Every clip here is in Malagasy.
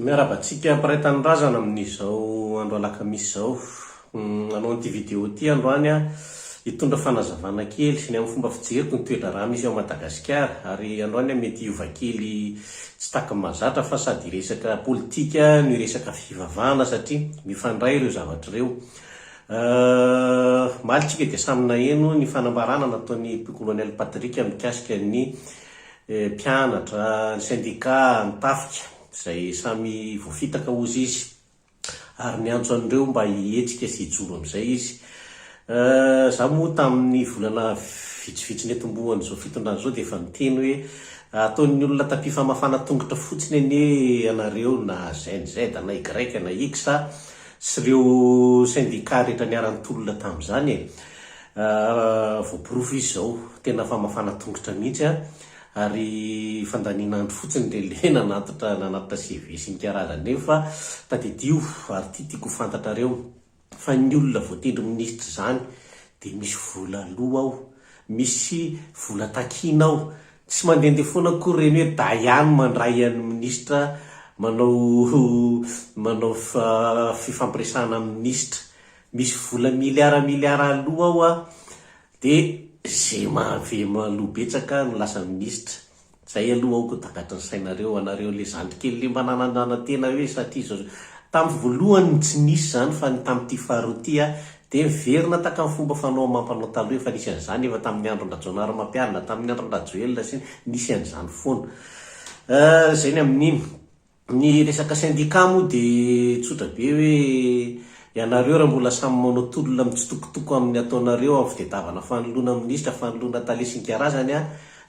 Miarahaba antsika mpiray tanindrazana amin'izao andro alakamisy izao. Nanao an'ity video ity aho androany hitondra fanazavana kely ny amin'ny fomba fijeriko ny toe-draharaha misy ao Madagasikara. Ary androany aho mety hiova kely tsy takin'ny mahazatra fa sady hiresaka politika no hiresaka fivavahana satria mifandray ireo zavatra ireo. Omaly isika dia samy naheno ny fanambarana nataon'i Pkolonel Patrick mikasika ny Ny mpianatra, ny sendikà, ny tafika, izay samy voafitaka hozy izy, ary niantso an'ireo mba hihetsika sy hijoro amin'izay izy. Izaho moa tamin'ny volana vitsivitsy netombohan'izao fitondrana izao dia efa niteny hoe, ataon'ny olona tapi-famafana tongotra fotsiny anie ianareo na Gen Z na Y na X sy ireo sendikà rehetra niara-nitolona tamin'izany e! Voaporofo izy izao, tena famafana tongotra mihitsy a, ary fandaniana andro fotsiny dia le nanatitra nanatitra CV sy ny karazany. Nefa tadidio ary ity tiako ho fantatrareo fa ny olona voatendry minisitra izany dia misy vola aloa ao, misy vola takiana ao, tsy mandehandeha foana akory ireny hoe daiany mandray an'ny minisitra manao manao fifampiresahana amin'ny minisitra. Misy vola miliara miliara aloa ao a! de ze mahavelo aloa betsaka no lasa minisitra! zay aloa aoka ho takatry ny sainareo anareo le zandry kely le mba nanandrana tena hoe satria zao zao! tam voalohany no tsy nisy zany fa ny tam ty faharoa ty a! de miverina takam fomba fanao amampanao taloha efa nisy anzany efa tam ny andron drajaonarimampianina tam ny andron drajoelina sy ny nisy anzany foana! ah zay ny amininy! Ny resaka syndicat moa dia tsotra be hoe ianareo raha mbola samy manao tolona mitsitokotoko amin'ny ataonareo amin'ny fitedavana fanoloana minisitra, fanoloana tale sy ny karazany an,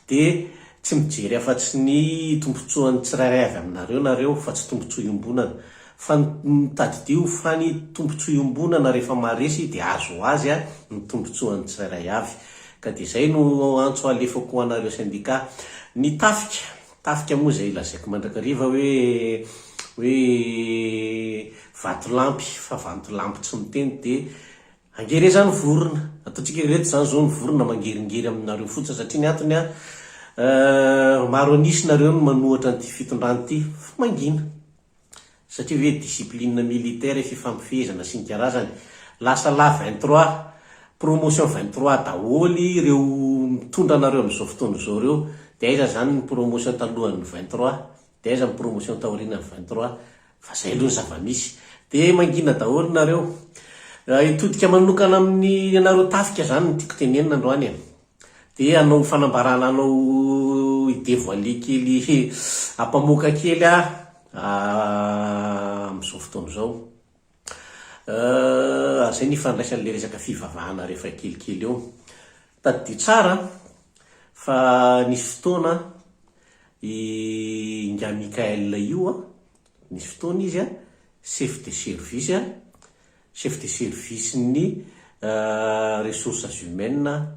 dia tsy mijery afa-tsy ny tombotsoan'ny tsirairay avy aminareo nareo fa tsy tombotsoa iombonana. Fa tadidio fa ny tombotsoa iombonana rehefa maharesy dia azo ho azy an, ny tombotsoan'ny tsirairay avy. Ka dia izay no antso alefako ho anareo syndicat. Ny tafika Tafika moa izay lazaiko mandrakariva hoe hoe vatolampy fa vantolampy tsy miteny dia angery izany vorona ataontsika hoe ireto izany izao ny vorona mangeringery aminareo fotsiny satria ny antony an maro an'isa nareo no manohatra an'ity fitondrana ity fa mangina. Satria ve discipline militaire fifampifehezana sy ny karazany. Lasa la vingt trois, promotion vingt trois daholo ireo mitondra anareo amin'izao fotoana izao ireo. Dia aiza izany ny promotion talohan'ny vingt trois? Dia aiza ny promotion taorianan'ny vingt trois? Fa izay aloha ny zava-misy. Dia mangina daholo nareo. Hitodika manokana amin'ny anareo tafika izany no tiako tenenina androany e. Dia hanao fanambarana anao hi devoiler kely hampamoaka kely aho amin'izao fotoana izao. Ary izay no ifandraisan'ilay resaka fivavahana rehefa kelikely eo. Tadidio tsara fa nisy fotoana i Ingahy Mickaël io Nisy fotoana izy chef de service, chef de service ny ressources humaines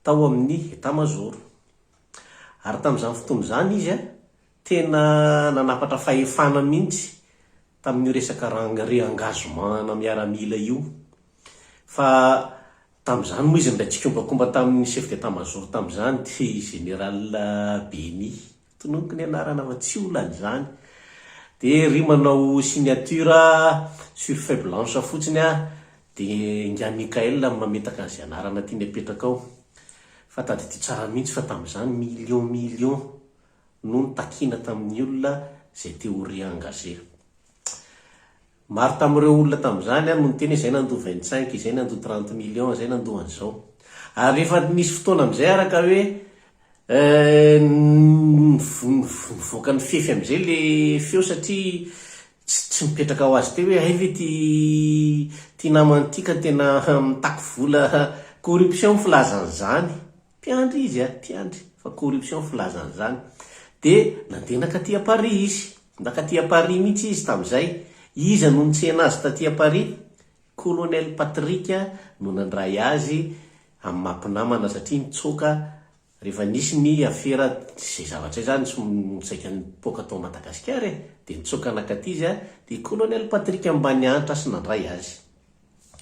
tao amin'ny état major. Ary tamin'izany fotoana izany izy tena nanapatra fahefana mihitsy tamin'io resaka rang re-engagement-na miaramila io. Fa tamin'izany moa izy nilay tsikombakomba tamin'ny chef d'état major tamin'izany dia général Beny. Tononiko ny anarana fa tsy olana izany. Dia ry manao signature sur feuille blanche fotsiny aho dia ingahy Mickaël no mametaka an'izay anarana tiany apetraka ao. Fa tadidio tsara mihitsy fa tamin'izany millions millions no notakina tamin'ny olona izay te ho re-engagé. Maro tamin'ireo olona tamin'izany no niteny hoe izay nandoa 25, izay nandoa 30 millions, izay nandoa an'izao. Ary rehefa nisy fotoana amin'izay araka hoe nivoaka nifefy amin'izay ilay feo satria tsy tsy nipetraka ho azy teo hoe hay ve ity ity namana ity ka tena mitaky vola corruption ny filazan'izany. Tiandry izy a, tiandry fa corruption filazany zany. Dia nandeha nakaty à Paris izy. Nakaty à Paris mihitsy izy tamin'izay. Iza no nitsena azy taty à Paris? Colonel Patrick no nandray azy amin'ny maha mpinamana satria nitsoaka rehefa nisy ny afera izay zavatra izay zany saika nipoaka tao Madagasikara e. Dia nitsoaka nakaty izy dia i Colonel Patrick Ambanihanitra sy nandray azy.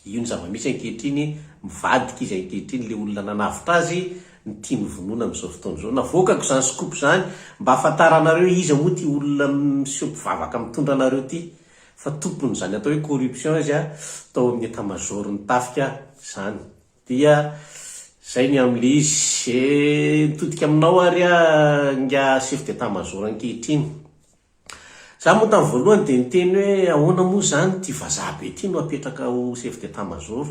Io ny zava-misy ankehitriny, mivadika izy ankehitriny, ilay olona nanavotra azy ny tiany hovonoina amin'izao fotoana izao. Navoakako izany scoop izany mba hahafantaranareo iza moa ity olona miseho mpivavaka mitondra anareo ity, fa tompon'izany atao hoe corruption izy tao amin'ny état major ny tafika izany. Dia izay ny amin'ilay izy. Eh, mitodika aminao ary aho ingahy chef d'état major ankehitriny. Za moa tamin'ny voalohany dia niteny hoe ahoana moa izany ity vazaha be ity no apetraka ho chef d'état major?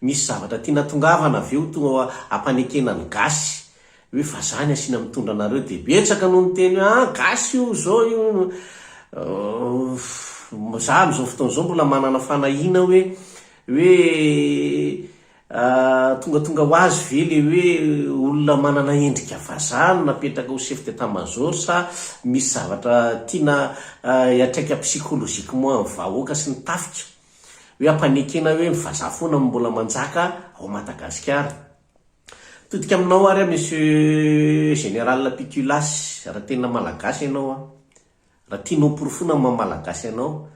Misy zavatra tiana atongavana ve ho tonga ampanekena ny gasy hoe vazaha ny asiana mitondra anareo dia betsaka no niteny hoe ah gasy io izao io Za amin'izao fotoana izao mbola manana fanahiana hoe hoe Tongatonga ho azy ve ilay hoe olona manana endrika vazaha no napetraka ho chef d'etat major sa misy zavatra tiana hiatraika psychologiquement ny vahoaka sy ny tafika hoe hampanekena hoe ny vazaha foana no mbola manjaka ao Madagasikara? Todika aminao ary aho Monsieur Général Pitulas raha tena Malagasy ianao an! Raha tianao ho porofoina ny maha Malagasy anao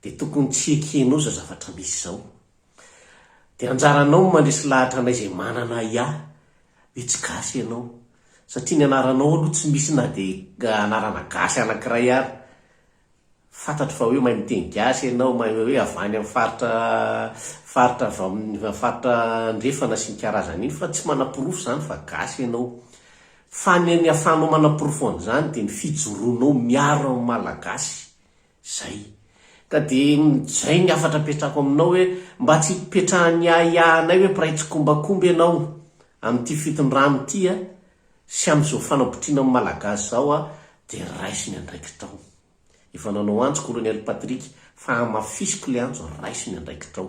dia tokony tsy ekenao izao zavatra misy izao. Dia anjaranao ny mandresy lahatra anay izay manana ahiahy, dia tsy gasy ianao, satria ny anaranao aloha tsy misy na dia anarana gasy anankiray ary. Fantatro fa hoe mahay miteny gasy ianao, mahay hoe avy any amin'ny faritra faritra avy amin'ny faritra andrefana sy ny karazan'iny, fa tsy manaporofo izany fa gasy ianao. Fa ny ny ahafahanao manaporofo an'izany dia ny fijoroanao miaro ny malagasy, Izay. Ka dia izay ny hafatra apetrako aminao hoe mba tsy hipetrahan'ny ahiahinay hoe mpiray tsikombakomba ianao amin'ity fitondrana ity a! sy amin'izao fanabotriana amin'ny Malagasy izao a! dia raiso ny andraikitrao. Efa nanao antso kolonely Patrick fa hamafisiko ilay antso raiso ny andraikitrao.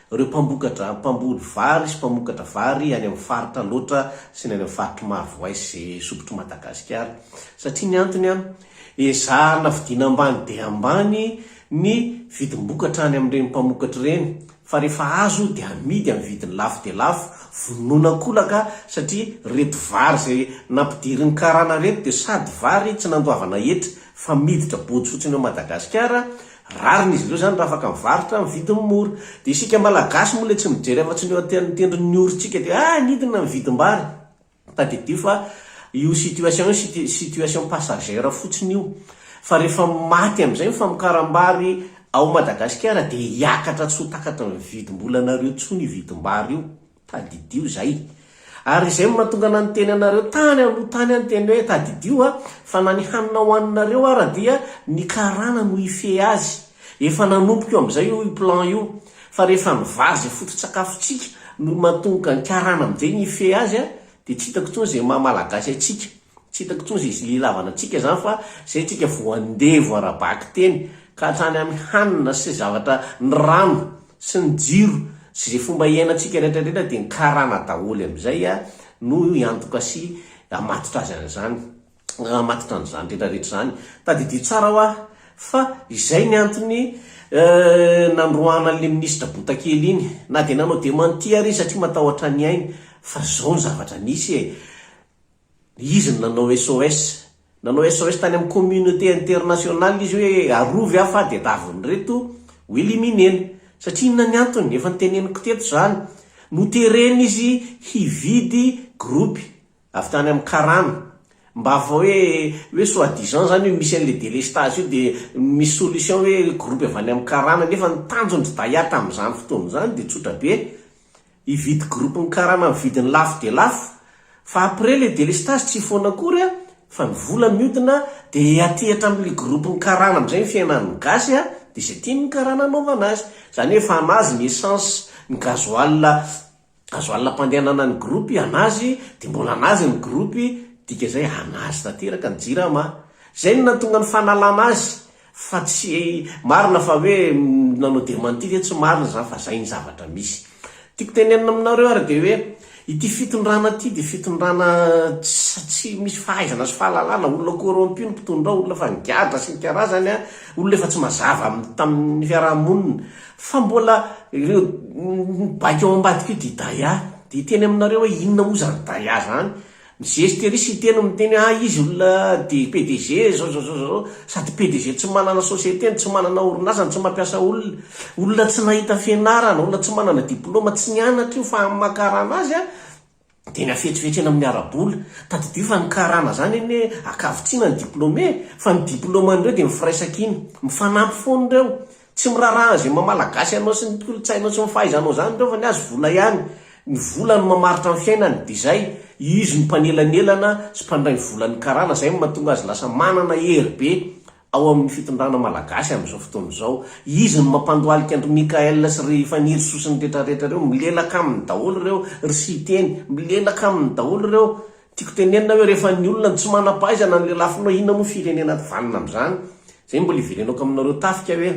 Ireo mpambokatra, mpamboly vary sy mpamokatra vary any amin'ny faritra Alaotra sy ny any amin'ny faritry Marovoay sy Sopitr'i Madagasikara. Satria ny antony an, ezahana vidiana ambany dia ambany ny vidim-bokatra any amin'ireny mpamokatra ireny, fa rehefa azo dia amidy amin'ny vidiny lafo dia lafo, vonoina an-kolaka satria ireto vary izay nampidirin'ny karana ireto dia sady vary tsy nandoavana hetra fa miditra body fotsiny ao Madagasikara Rariny izy ireo izany raha afaka mivarotra amin'ny vidiny mora. Dia isika Malagasy moa ilay tsy mijery afa-tsy ny eo an-tehan'ny tendron'ny orintsika dia ah nidina ny vidim-bary. Tadidio fa io situation io siti, situation passagère fotsiny io. Fa rehefa maty amin'izay ny famokaram-bary ao Madagasikara dia hiakatra tsy ho takatry ny vidim-bolanareo intsony io vidim-bary io. Tadidio izay. Ary izay no mahatonga nanoteny anareo tany aloha tany aho niteny hoe, Tadidio aho, fa na ny hanina hohaninareo ara dia ny karana no hifehy azy. Efa nanomboka io amin'izay io plan io. Fa rehefa ny vary izay foto-tsakafontsika no mahatonga ny karana amin'izay ny hifehy azy dia tsy hitako intsony izay maha malagasy antsika. Tsy hitako intsony izay ilavana antsika izany fa izay antsika voandevo ara-bakiteny ka hatrany amin'ny hanina sy zavatra, ny rano. sy ny jiro sy izay fomba hiainantsika rehetra rehetra dia ny karana daholo amin'izay no hiantoka sy hamatotra azy an'izany hamatotra an'izany rehetra rehetra izany tadidio tsara hoa fa izay ny antony nandroahana an'ilay ministra botakely iny na dia nanao demanti ary izy satria matahotra ny ainy fa izao ny zavatra nisy e! Izy no nanao SOS. Nanao SOS tany amin'ny communauté internationale izy hoe arovy aho fa tadiavin'ireto ho éliminer-na. Satria inona ny antony? Efa noteneniko teto izany. Noterena izy hividy groupe avy tany amin'ny karana. Mba fa hoe, hoe soit disant izany hoe misy an'ilay délestage io dia misy solution hoe groupe avy any amin'ny karana. Nefa ny tanjon'i Daya tamin'izany fotoana izany dia tsotra be. Hividy groupe ny karama ny vidiny lafo dia lafo fa après le délestage tsy hifoana akory a fa ny vola miodina dia hihatehitra amin le groupe ny karana amizay ny fiainan ny gasy a dia izay tian ny karana hanaovana azy zany hoe efa anazy ny essence ny gasoil gasoil ampandehanana ny groupe anazy dia mbola anazy ny groupe dika izay anazy tanteraka ny jirama zay no nahatonga ny fanalana azy Fa tsy marina fa hoe nanao dementie ve tsy marina izany fa izay ny zavatra misy. Tiako tenenina aminareo ary dia hoe ity fitondrana ity dia fitondrana tsy misy fahaizana sy fahalalana, olona corrompu ny mpitondra ao, olona efa nigadra sy ny karazany an, olona efa tsy mazava amin'ny tamin'ny fiaraha-monina. Fa mbola ireo baiko ao ambadika io dia Daya. Dia hiteny aminareo hoe inona moa izany Daya izany? Mizesty ery site no miteny ha izy olona de PDG zao zao zao zao sady PDG tsy manana société ny tsy manana orinasa ny tsy mampiasa olona olona tsy nahita fianarana olona tsy manana diploma tsy nianatra io fa amina karana azy a de ny afetsifetsy eny amin'ny arabola tadidio fa ny karana zany anie akavitsiana ny diplome fa ny diploma an'ireo de ny firaisankina mifanampy foana ireo Tsy miraraha an'izay maha Malagasy anao sy ny kolontsainao sy ny fahaizanao izany ireo fa ny azy vola ihany. Ny vola no mamaritra ny fiainany dia izay, izy no mpanelanelana sy mpandray ny volan'ny karana izay no mahatonga azy lasa manana hery be ao amin'ny fitondrana Malagasy amin'izao fotoana izao. Izy no mampandohalika an-dry Mickaël sy ry Fanirisoa sy ny retraretra ireo, milelaka aminy daholo ireo, ry Siteny, milelaka aminy daholo ireo. Tiako tenenina hoe rehefa ny olona no tsy manam-pahaizana ny lelafinao inona moa firenena vanona amin'izany? Izay mbola iverenako aminareo tafika hoe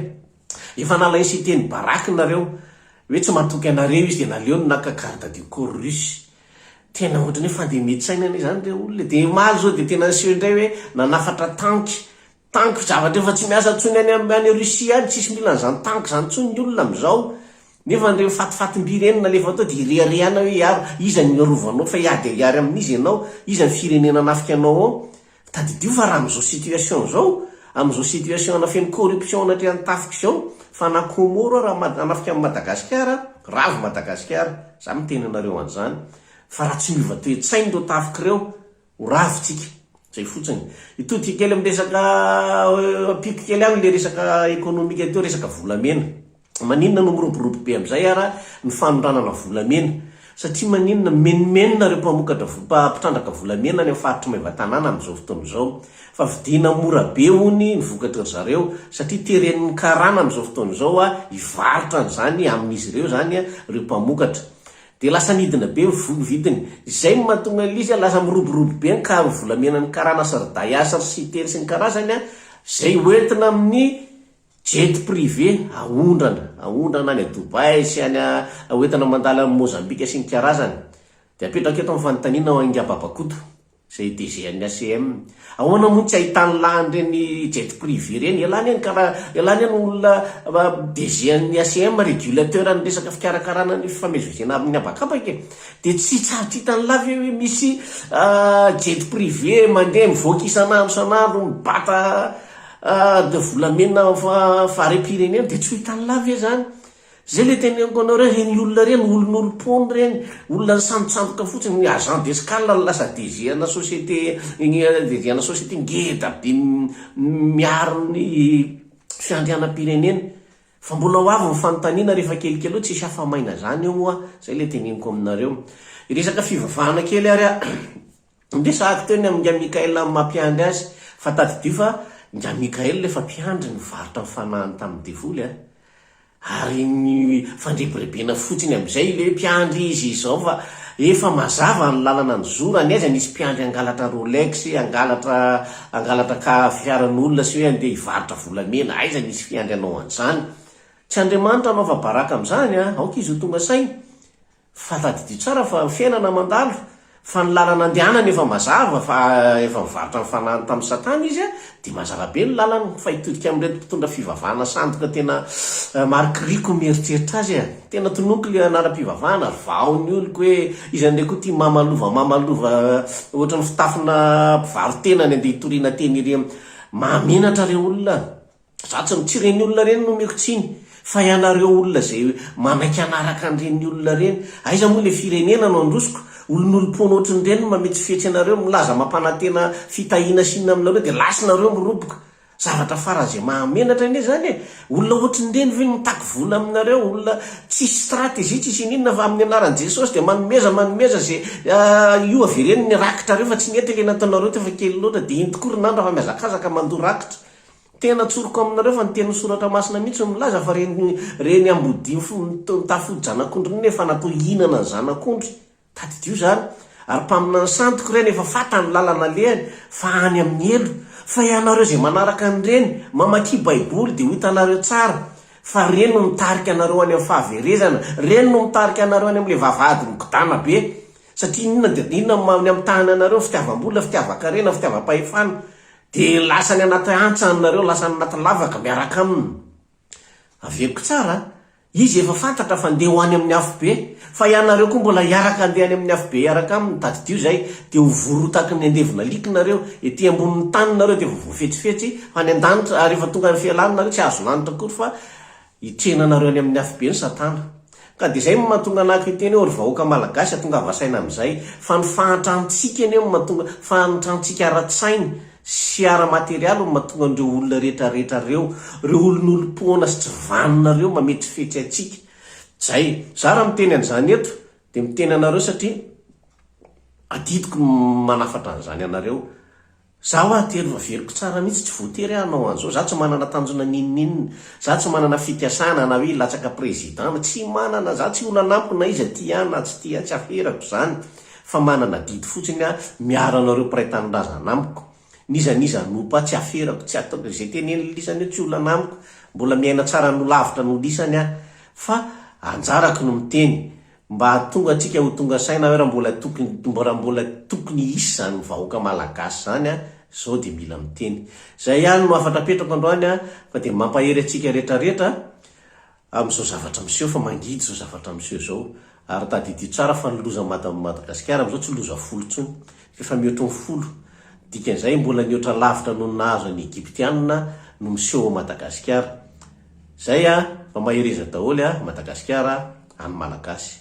efa nalain'i Siteny baraque nareo hoe tsy matoky anareo izy dia naleony naka garde du corps russe. Tena ohatran'ny hoe fandemian-tsaina anie izany ireo olona e. Dia omaly izao dia tena niseho indray hoe nanafatra tanky Tanky zavatra efa tsy miasa intsony any am any Russie any, tsisy mila an'izany tanky izany intsony ny olona amin'izao, nefa an'ireny fatifatim-by ireny no alefa tao dia ireharehana hoe hiaro, iza no hiarovanao fa hiady hiary amin'iza ianao, iza ny firenena hanafika anao ao, tadidio fa raha amin'izao situation izao, amin'izao situation ana feno corruption anatrehan'ny tafika izao, fa na Comoro ara ma hanafika an'i Madagasikara, ravo Madagasikara, za miteny anareo an'izany, fa raha tsy miova toe-tsaina ireo tafika ireo, Ho ravo tsika. Zay fotsiny. Hitodika kely amin'ny resaka ampiko kely any le resaka ekonomika teo, resaka volamena. Maninona no miroborobo be amin'izay ara ny fanondranana volamena? Satria maninona? Mimenomenona ireo mpamokatra mpitrandraka volamena any amin'ny faritry Maevatanàna amin'izao fotoana izao. Fa vidiana mora be hono ny vokatry ry zareo satria teren'ny karana amin'izao fotoana izao hivarotra an'izany amin'izy ireo izany ireo mpamokatra. Dia lasa nidina be ny vola vidiny. Izay no mahatonga an'lzy lasa miroborobo be ny karon'ny volamenan'ny karana Srdaï Asr sy Itely sy ny karazany izay hoentina amin'ny jet privé aondrana aondrana any Dubaï sy any hoentina mandalo any Mozambika sy ny karazany. Dia apetrako eto ny fanontaniana ho an'i Ngababa Koto. Izay DG an'ny ACM. Ahoana moa no tsy ahitany lany ireny jet privé ireny? Ialany any kara, ialany any olona DG an'ny ACM, régulateur an'ny resaka fikarakarana ny fifamezivezena amin'ny habakabaka e! Dia tsy tsaritr'hitany lahy ve hoe misy jet privé mandeha mivoaka isan'andro isan'andro mibata de volamena fa-fahariam-pirenena? Dia tsy ho hitan'ilahy ve izany? Zay le teneniko anao reo reny olona reny olon'olom-pony reny olona nisambotsamboka fotsiny ny agent d'escale no lasa DG ana société DG ana société ngeda be miaro ny fiandrianam-pirenena fa mbola ho avy ny fanontaniana rehefa kelikely eo tsisy afa-maina zany eo moa zay le teneniko aminareo resaka fivavahana kely ary a. Ndeha sahako teo ny amin'i Nga Mickaël amin'ny maha mpiandry azy, fa tadidio fa Nga Mickaël efa mpiandry nivarotra ny fanahiny tamin'ny devoly an! Ary nifandrebirebena fotsiny amin'izay ilay hoe mpiandry izy izao fa efa mazava ny lalana nizorany, aiza nisy mpiandry hangalatra Rolex, hangalatra hangalatra ka fiaran'olona sy hoe handeha hivarotra volamena, aiza nisy fiandry hanao an'izany? Tsy Andriamanitra hanaova baraka amin'izany an! Aoka izy ho tonga saina. Fa tadidio tsara fa ny fiainana mandalo, fa ny lalana andehanany efa mazava fa efa nivarotra ny fanahiny tamin'i satana izy dia mazava be ny lalany, fa hitodika amin'ireto mpitondra fivavahana sandoka tena marikiriko ny eritreritra azy a! Tena tononiko ilay anaram-pivavahana, vao ny oloko hoe iza indray koa ity mamalova mamalova ohatran'ny fitafina mpivaro-tena ny andeha hitoriana teny iry a! Mahamenatra re olona a! Za tsy tsy ireny olona ireny no omeko tsiny fa ianareo olona izay manaiky hanaraka an'ireny olona ireny. Aiza moa ilay firenena no handrosoko? Olon'olom-poana ohatrin'ny ireny no mametsifetsy anareo, milaza mampanantena fitahiana sy inona aminareo dia lasa nareo miroboka. Zavatra faran'izay mahamenatra anie izany e! Olona ohatrin'ny ireny ve no mitaky vola aminareo? Olona tsisy stratégie tsisy ininona fa amin'ny anaran'i Jesosy dia manomeza manomeza izay io averen'ny rakitrareo fa tsy nety ilay nataonareo teo fa kely loatra dia inty koa ry nandra fa mihazakazaka mandoa rakitra. Tena tsoriko aminareo fa ny tenin'ny soratra masina mihitsy no milaza fa reny reny ambodia mitafy fody zanak'ondry reny efa natao hihinana ny zanak'ondry. Tadidio izany. Ary mpaminany santiko ireny efa fantany ny lalana alehany fa any amin'ny helo. Fa ianareo izay manaraka an'ireny, mamakia baiboly dia ho hitanareo tsara fa reny no mitarika anareo any amin'ny fahaverezana. Reny no mitarika anareo any amin'ilay vavahady migodàna be. Satria inona dia inona no maha ny amitahany anareo? Fitiavam-bola, fitiavan-karena, fitiavam-pahefana. Dia lasa any anaty antsa any nareo, lasa any anaty lavaka miaraka aminy. Averiko tsara a! Izy efa fantatra fa ndeha ho any amin'ny afobe, fa ianareo koa mbola hiaraka handeha any amin'ny afobe hiaraka aminy, tadidio izay dia ho vorotaky ny andevin'alika nareo, ety ambonin'ny tany nareo dia efa voafetsifetsy any an-danitra, ary rehefa tonga any Fialana nareo tsy hahazo lanitra akory fa Hitrena anareo any amin'ny afobe ny satana. Ka dia izay no mahatonga anah kiteny eo ry vahoaka malagasy a tongava saina amin'izay fa ny fahantrantsika anie no mahatonga fahantrantsika ara-tsaina sy ara-materialy no mahatonga an'ireo olona rehetra rehetra ireo ireo olon'olom-poana sy tsy vanona ireo mametrifetry antsika zay za raha miteny an'izany eto dia miteny anareo satria adidiko ny manafatra an'izany anareo Za hoa ity aloha averiko tsara mihitsy tsy voatery aho hanao an'izao, za tsy manana tanjona n'inon'inona, za tsy manana fikasana na hoe hilatsaka président, tsy manana, za tsy olona anamiko na iza tia ahy na tsy tia ahy, tsy aferako izany fa manana adidy fotsiny aho miaro anareo mpiray tanindrazana amiko, n'iza n'iza hanompo ahy tsy aferako, tsy ataoko, izay tenen'ny lisany eo tsy olona anamiko, mbola miaina tsara no lavitra no lisany aho fa anjarako ny miteny, Mba hahatonga antsika ho tonga saina hoe raha mbola tokony raha mbola tokony hisy izany vahoaka malagasy izany an, izao dia mila miteny. Izay ihany no hafatra apetrako androany an, fa dia mampahery antsika rehetra rehetra amin'izao zavatra miseho fa mangidy izao zavatra miseho izao. Ary tadidio tsara fa ny loza mad Madagasikara amin'izao tsy loza folo intsony, fa efa mihoatry ny folo. Dikan'izay mbola nihoatra lavitra noho ny nahazo an'i Egyptiana no miseho ao Madagasikara. Zay a, fa mahereza daholo a Madagasikara, any Malagasy.